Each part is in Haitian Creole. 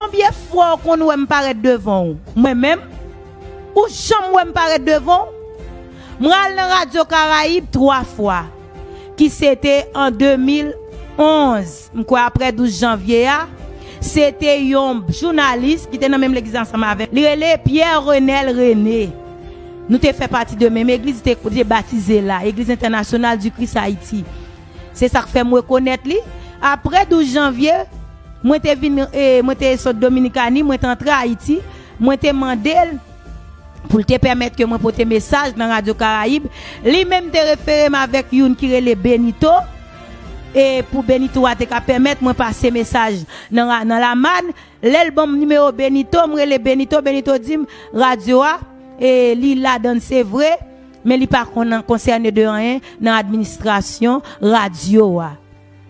Konbyen fwa ou konn wè m parèt devan ou? Mwen menm? Ou janm wè m parèt devan ou? Mwen al nan radyo Karayib 3 fwa, ki se te an 2011, m kwè aprè 12 janvye a, se te yon jounalis ki te nan menm legliz ansanm avè m, li rele Pierre Renel René. Nou te fè pati de menm egliz, li te batize la, Eglise Internationale du Christ Haïti. Se sa k fè m rekonèt li. Apre 12 janvye, mwen te vin, mwen te sot Dominikani, mwen te antre Ayiti, mwen te mande l pou l te pèmèt ke mwen pote mesaj nan Radyo Karayib. Li menm te refere m avèk youn ki rele Benito, e pou Benito a te ka pèmèt mwen pase mesaj nan ra, nan Lamàn. Lè l ban m nimewo Benito, m rele Benito, Benito di m, Radyo a, e li ladan l se vre, Men li pa konn an konsène de anyen nan administrasyon radyo a.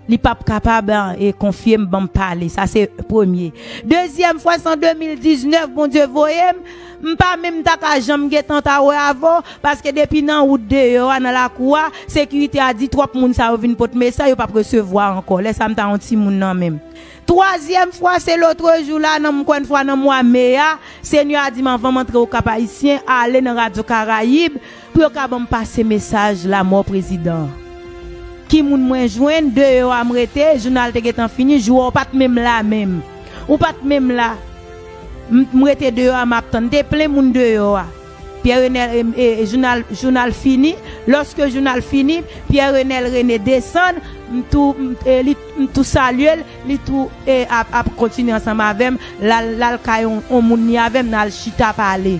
Li pa p kapab e konfye m ban m pale. Sa se premye. Dezyèm fwa s an 2019 Bondye voye m. M pa menm ta ka janm gen tan ta wè avè w paske depi nan wout deyò a, nan lakou a, sekirite a di twòp moun sa yo vin pot mesay yo pa p resevwa ankò. Lè sa a m ta yon timoun nan men m. Twazyèm fwa, se lotrejou la, nan mkwen fwa nan mwa me a, Senyè a di m anvan m antre Okap Ayisyen, ale nan Radyo Karayib pou yo ka ban m pase mesaj lamò prezidan an. Ki moun mwen jwenn, deyò a m rete, jounal te gentan fini, jou a ou pa t menm la menm. Ou pa t menm la. M rete deyò a m ap tann. Te plen moun deyò a. Pierre Renel e jounal jounal fini loske jounal fini Pierre Renel Rene desann m tou li m tou salye l li tou e ap ap kontinye ansanm avèm lal lal kay on on moun ni avèm nal chita pale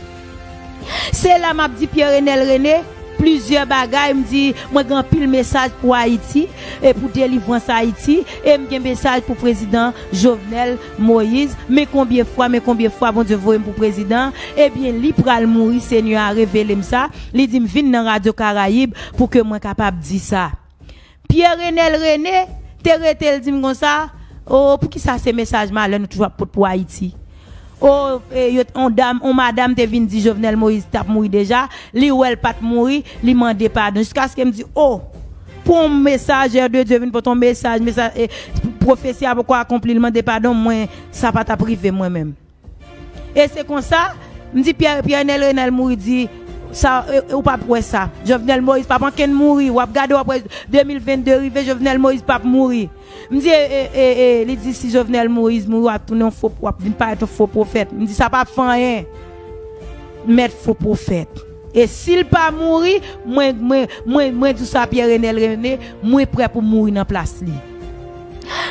se la map di Pierre Renel Rene plizyè bagay m di mwen gen anpil mesaj pou Ayiti e pou delivrans Ayiti em gen mesaj pou prezidan Jovenel Moïse, men konbyen fwa, men konbyen fwa Bondye voyem pou prezidan, ebyen li pral mouri Senyè a revelem sa, li dim vin nan radyo karayib pou ke mwen kapab di sa. Pierre Renel Rene te rete l dim konsa, oo poukisa se mesaj malè nou toujou ap pot pou Haïti? Oo e yo on dam on madam te vin di Jovenel Moïse tap mouri deja, li wèl pat mouri, li mande padon jiskaskem di oo Pou messager de Dieu vin pote yon mesaj mesaj e profesi a poko akonpli li mande padon mwen sa pa tap rive mwen menm e se konsa m di Pierre Pierre Nel Renel mouri di sa ou pap wè sa Jovenel Moïse pap ankenn mouri wap gade wap wè 2022 rive Jovenel Moïse pap mouri m di e e e li di si Jovenel Moïse mouri wap tounen yon fo wap vin parèt yon fo profèt m di sa pap fè anyen mèt fo profèt. E sil pa mouri, mwen, mwen, mwen, mwen di w sa Pierre Enel Rene, mwen prè pou m mouri nan plas li.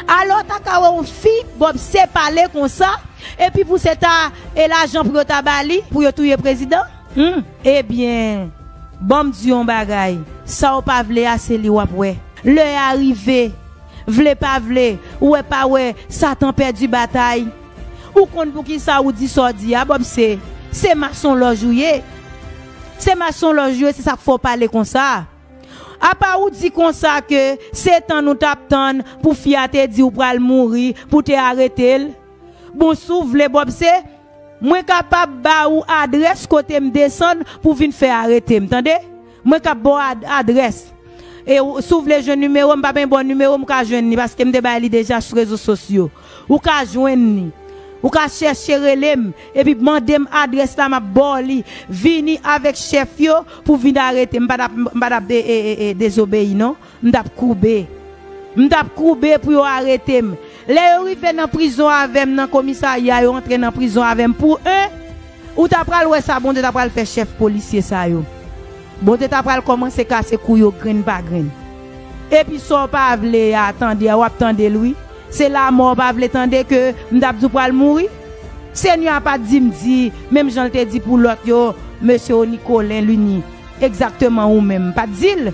Alò w ta ka wè yon fi Bob se pale konsa, epi pou se ta e lajan pou yo ta ba li pou yo touye prezidan? Hum! Ebyen, ban m di w yon bagay, sa w pa vle a se li w ap wè. Lè a rive. Vle pa vle, wè pa wè, Satan pèdi batay. Ou konn poukisa ou di sa w di a Bobse? Se masonlòj ou ye. Se masonlòj ou ye se sa k fè w pale konsa. Apa ou di konsa ke se tan nou t ap tann pou fi a te di w pral mouri pou w te arete l? Bon si w vle Bobse, mwen kapab ba ou adrès kote m desann pou w vin fè arete m tande. Mwen kap baw adrès. E si w vle jwenn nimewo m pa beny bon nimewo m ka jwenn li paske m te bay li deja sou rezo sosyo. Ou ka jwenn li. Ou ka chèche rele m epi mande m adrès la map ba w li. Vini avèk chèf yo pou vin arete m. M pa tap dezobeyi non. M t ap koube. M t ap koube pou yo arete m. Lè yo rive nan prizon avè m nan komisarya yo antre nan prizon avè m pou 1 Ou ta pral wè sa Bondye ta pral fè chèf polisye sa yo. Bondye ta pral kòmanse kase kou yo grenn pa grenn. Epi sa w pa vle a tande a w ap tande l wi. Se lamò w pa vle tande ke m t ap di w pral mouri? Senyè a pa t di m di menm jan l te di pou lòt yo Mesye Onicolin Lunie, egzakteman ou menm. M pa t di l.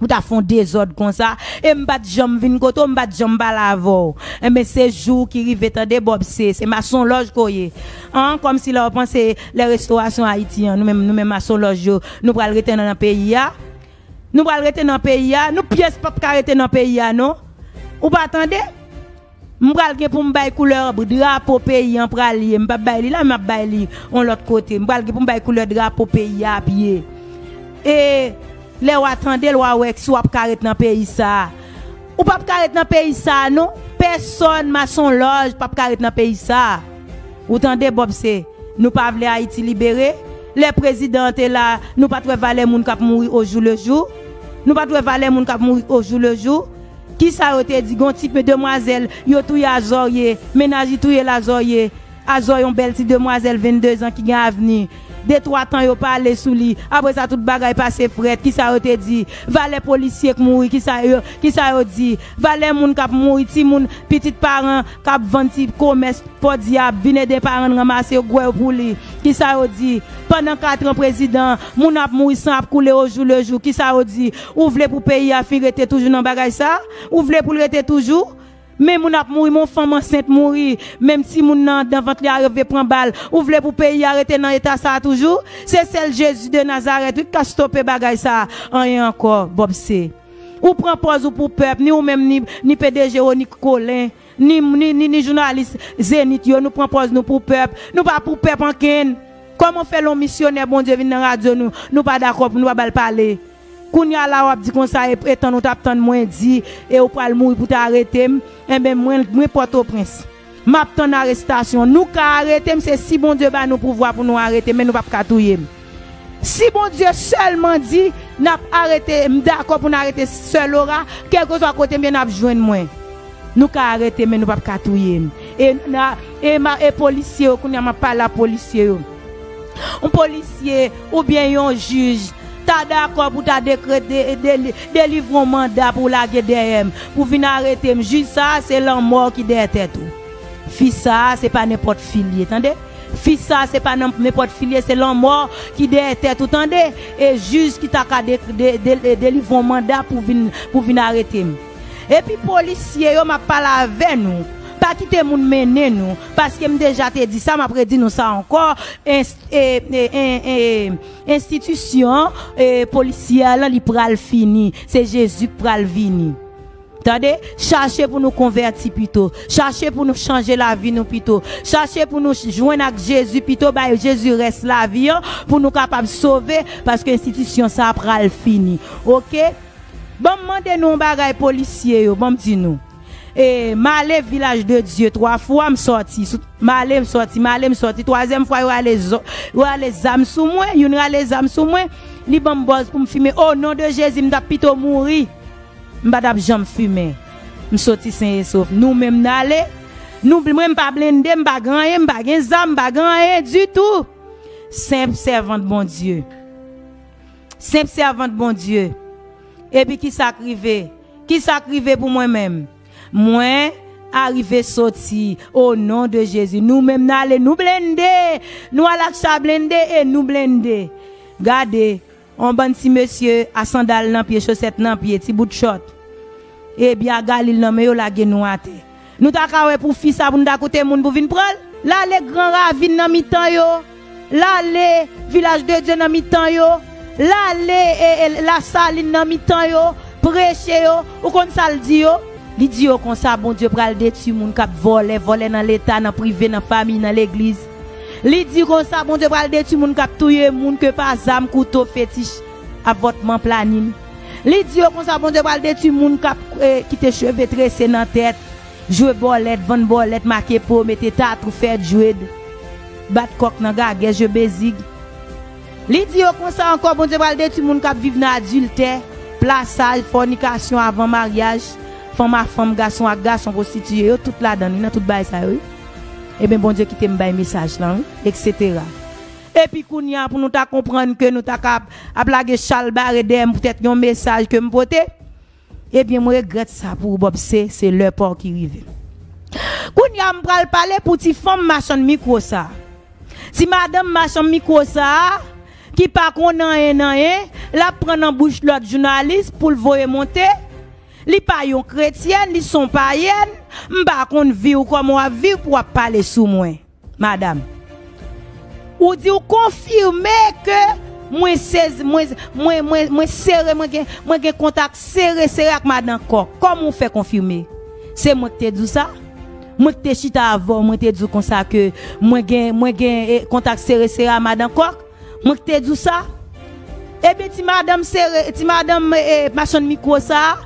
Ou ta fon dezòd konsa e m pat janm vin kote w m pat janm pale avè w enben se jou w ki rive tande Bob se se masonlòj ke w ye an kòmsi lè w panse lè restowasyon Ayiti an nou menm nou menm masonlòj yo nou pral rete nan peyi a nou pral rete nan peyi a nou pyès pap ka rete nan peyi a non ou pa tande. M pral gen pou m bay koulè drapo peyi an pral ye. M pap bay li la men map bay li yon lòt kote. M pral gen pou m bay koulè drapo peyi a ap ye. E lè wa tande l wa wè si wap ka ret nan peyi sa a. Ou pap ka ret nan peyi sa a non. Pèsòn masonlòj pap ka ret nan peyi sa a. Ou tande Bob se nou pa vle Ayiti libere. Lè prezidan an te la nou pat wè valè moun kap mouri ojou lejou. Nou pat wè valè moun kap mouri ojou lejou. Kisa yo te di gon ti pe demwazèl yo touye azòrye mennaj li touye l azòrye azò yon bèl ti demwazèl 22 zan ki gen avni de twa tan yo pale sou li apre sa tout bagay pase frèt kisa yo te di valè polisye k mouri kisa yo kisa yo di valè moun k ap mouri timoun pitit paran k ap vann ti komès pòdyab vin ede paran n ranmase yo gwèy pou li kisa yo di pandan katran prezidan moun ap mouri san ap koule ojou lejou kisa yo di Ou vle pou peyi a fin rete toujou nan bagay sa? Ou vle pou l rete toujou? Men moun ap mouri, men yon fanm ansent mouri, menm timoun nan anndan vant li a rive pran bal. Ou vle pou peyi a rete nan eta sa a toujou? Se sèl Jezi de Nazarèt wi k ka stope bagay sa a. Anyen ankò, Bob se. Ou pran pòz ou pou pèp, ni ou menm ni, ni P. Dejeronnik Kolin. Ni m ni ni jounalis Zenith yo nou pran pòz nou pou pèp, nou pa pou pèp ankenn. Kòman w fè lè yon misyonè Bondye vin nan radyo nou, nou pa dakò pou nou pa ba l pale. Kounye a la w ap di konsa e e tann ou t ap tann mwen di e ou pral mouri pou ta arete m, enben mwen mwen Pòtoprens. M ap tann arestasyon. Nou ka arete m se si Bondye ba nou pouvwa pou nou arete m men nou p ap ka touye m. Si Bondye sèlman di nap arete m dakò pou n arete sè Lora kèlkeswa kote m ye nap jwenn mwen nou ka arete m men nou pap ka touye m e polisye yo kounye a map pale a polisye yo yon polisye oubyen yon jij ta dakò pou ta dekrete delivre yon manda pou lage dèyè m pou vin arete m jij sa se lanmò ki dèyè tèt ou fi sa se pa nenpòt fi l ye tande. Fi sa se pa nan nenpòt fi li ye se lanmò ki dèyè tèt ou tande e jij ki ta ka delivre yon manda pou vin pou vin arete m epi polisye yo map pale avè nou pa kite moun mennen nou paske m deja te di sa map redi nou sa ankò enstitisyon polisyè lan li pral fini se jezi k pral vini. Tande, chache pou nou konvèti pito, chache pou nou chanje lavi nou pito, chache pou nou jwenn ak Jezi pito, bay Jezi rès lavi an pou nou kapab sove paske enstitisyon sa pral fini ok. Banm mande nou yon bagay polisye yo banm di nou e male vilaj de Dye 3 fwa m sòti male m sòti male m sòti twazyèm fwa yo rale yo rale zam sou mwen youn rale zam sou mwen li banm bòz pou m fimen o non de Jezi m tap pito mouri. M pa tap janm fimen m soti sen e sof nou menm n ale nou bl mwen m pa blende m pa gen anyen m pa gen zam m pa gen anyen ditou senp sèvant Bondye senp sèvant Bondye epi kisa k rive kisa k rive pou mwen menm mwen arive soti o non de Jezi nou menm n ale nou blende nou al ak cha blende e nou blende gade On bann ti mesye a sandal nan pye chosèt nan pye ti bout chòt e bya galil nan men yo lage nou atè nou ta ka wè pou fi sa pou nou ta koute moun pou vin pranl. Lale gran ravin nan mitan yo lale vilaj de Dye nan mitan yo lale lasalin nan mitan yo preche yo ou konn sal di yo? Li di yo konsa Bondye pral detwi moun kap vòlè vòlè nan leta nan prive nan famiy nan legliz Li di konsa Bondye pral detwi moun kap touye moun ke pa zam, kouto, fetich, avòtman, planin. Li di yo konsa Bondye pral detwi moun kap kite cheve trese nan tèt, jwe bòlèt, vann bòlèt, make po, mete tatou, fè dread, bat kòk nan gagè, jwe bezig. Li di yo konsa ankò Bondye pral detwi moun kap viv nan adiltè, plasaj, fònikasyon, avan maryaj, fanm a fanm, gason ak gason, pwostitiye, yo tout ladan li nan tout bagay sa yo wi. Ebyen Bondye kite m bay mesaj lan wi eksetera. Epi kounya pou nou ta konprann ke nou ta ka ap lage chal bare dèyè m poutèt yon mesaj ke m pote, ebyen m regrèt sa pou ou Bobse, se lè pa w ki rive. Kounya m pral pale pou ti fanm machann mikwo sa, ti madanm machanm mikwo sa ki pa konn anyen nan anyen, l ap pran nan bouch lòt jounalis pou l voye monte, Li pa yon kretyèn li son payèn m pa konn viw kòman wap viv pou wap pale sou mwen madam ou di ou konfime ke mwen sezi mwen mwen mwen mwen sere mwen gen mwen gen kontak sere sere ak madan kòk kòman ou fè konfime se mwen ki te di w sa mwen ki te chita avèw mwen te di w konsa ke mwen gen mwen gen kontak sere sere a madan kòk. Mwen k te di w sa? Ebyen ti madanm sere, ti madanm machann mikwo sa,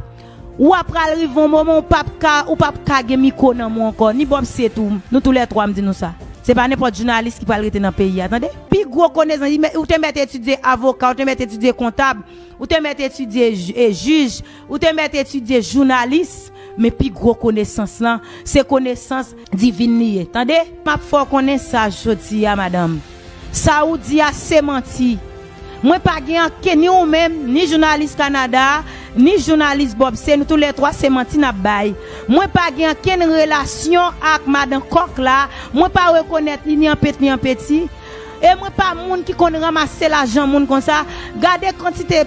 ou a pral rive yon moman ou pap ka, ou pap ka gen mikwo nan men w ankò, ni Bob Seet ou, nou tou lè twa m di nou sa. Se pa nenpòt jounalis ki pral rete nan peyi a, tande. Pi gwo konèsan, li mèt, ou te mèt etidye avoka, ou te mèt etidye kontab, ou te mèt etidye jij. Ou te mèt etidye jounalis men pi gwo konesans lan se konesans divin li ye tande. Map fè w konnen sa jodi a madanm, sa ou di a se manti. Mwen pa gen anken ni ou menm, ni jounalis Kanada a, ni jounalis Bob se nou tou lè twa se manti nap bay. Mwen pa gen ankenn relasyon ak madan kòk la, mwen pa rekonèt li ni an pent ni an peti. E mwen pa moun ki konn ranmase lajan moun konsa, gade kantite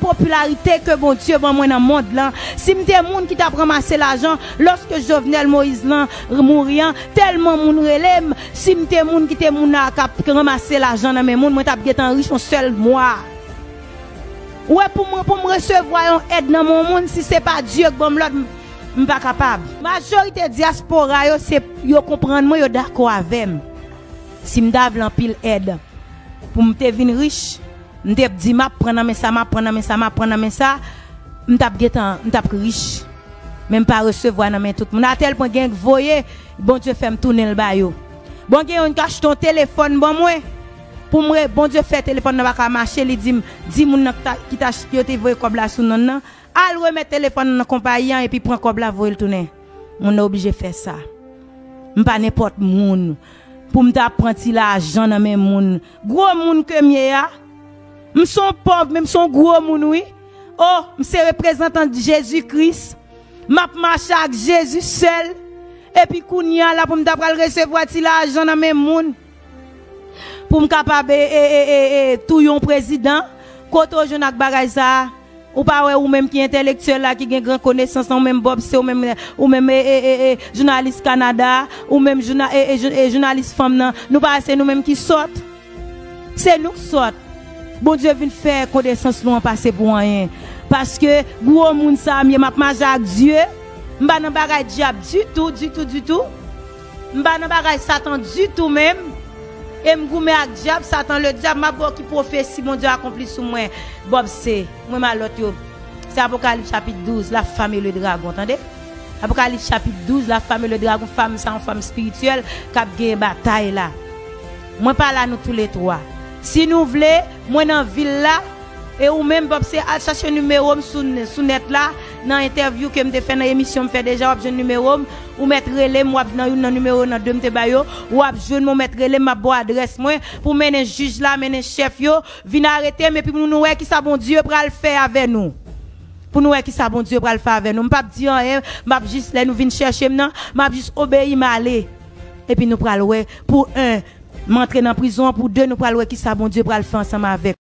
popilarite ke Bondye ban mwen nan mond lan, si m te moun ki tap ranmase lajan loske Jovenel Moïse lan mouri an, telman moun rele m, si m te moun ki te moun a kap ranmase lajan nan men moun mwen tap gentan rich yon sèl mwa. Ou wè pou mwen pou m resevwa yon èd nan men yon moun si se pa Dieu k banm lòd m pa kapab. Majorite diaspora yo se yo konprann mwen yo dakò avèm. Si m ta vle anpil èd pou m te vin rich, m te p di m ap pran nan men sa, m ap pran nan men sa, m ap pran nan men sa, m t ap gen tan, m t ap rich. Men m pa resevwa nan men tout moun. Atèl pwen gen k voye, Bondye fè m tounen l ba yo. Bon gen youn k achte yon telefòn ban mwen, pou m re, Bondye fè telefòn nan pa ka mache, li di m, di moun nan k ta, ki t achte, yo te voye kòb la sou non l nan, Al remèt telefòn nan nan konpayi an epi pran kòb la voye l tounen. Moun nan oblije fè sa. M pa nenpòt moun pou m ta pran ti lajan nan men moun. Gwo moun ke m ye a? M s on pòv men m s on gwo moun wi. O, m se reprezantant Jezi Kris. M ap mache ak Jezi sèl. Epi kounye a la pou m ta pral resevwa ti lajan nan men moun. Poum kapab tou yon prezidan, kote ou jwenn ak bagay sa a? Ou pa wè ou menm ki entèlektyèl la ki gen gran konesans lan ou menm Bob se ou menm ou menm jounalis Kanada a ou menm jounalis fanm nan nou pa wè se nou menm ki sòt? Se nou k sòt. Bondye vin fè konesans nou an pase pou anyen paske gwo moun sa a m ye m ap mache ak Dye m pa nan bagay dyab ditou ditou ditou. M pa nan bagay satan ditou menm e m goumen ak dyab satan le dyab map wè w ki pwofesi Bondye akonpli sou mwen Bob se mwen malòt yo se apokalip chapit 12 la fam e le dragon tande apokalip chapit 12 la fam e le dragon fam sa yon fam spirityèl kap gen batay la mwen pa la nou tou le 3 si nou vle mwen nan vil la e ou menm Bob se al chache nimewo m sou nèt la. Nan entèvyou ke m te fè nan emisyon m fè deja wap jwenn nimewo m ou mèt rele m wap nan youn nan nimewo nan 2 m te bay yo wap jwenn mwen w mèt rele m map ba w adrès mwen pou mennen jij la mennen chèf yo vin arete m epi pou nou wè kisa Bondye pral fè avè nou pou nou wè kisa Bondye pral fè avè nou m pap di anyen map jis lè nou vin chèche m nan map jis obeyi m ale epi nou pral wè pou 1 m antre nan prizon pou 2 nou pral wè kisa Bondye pral fè ansanm avèk.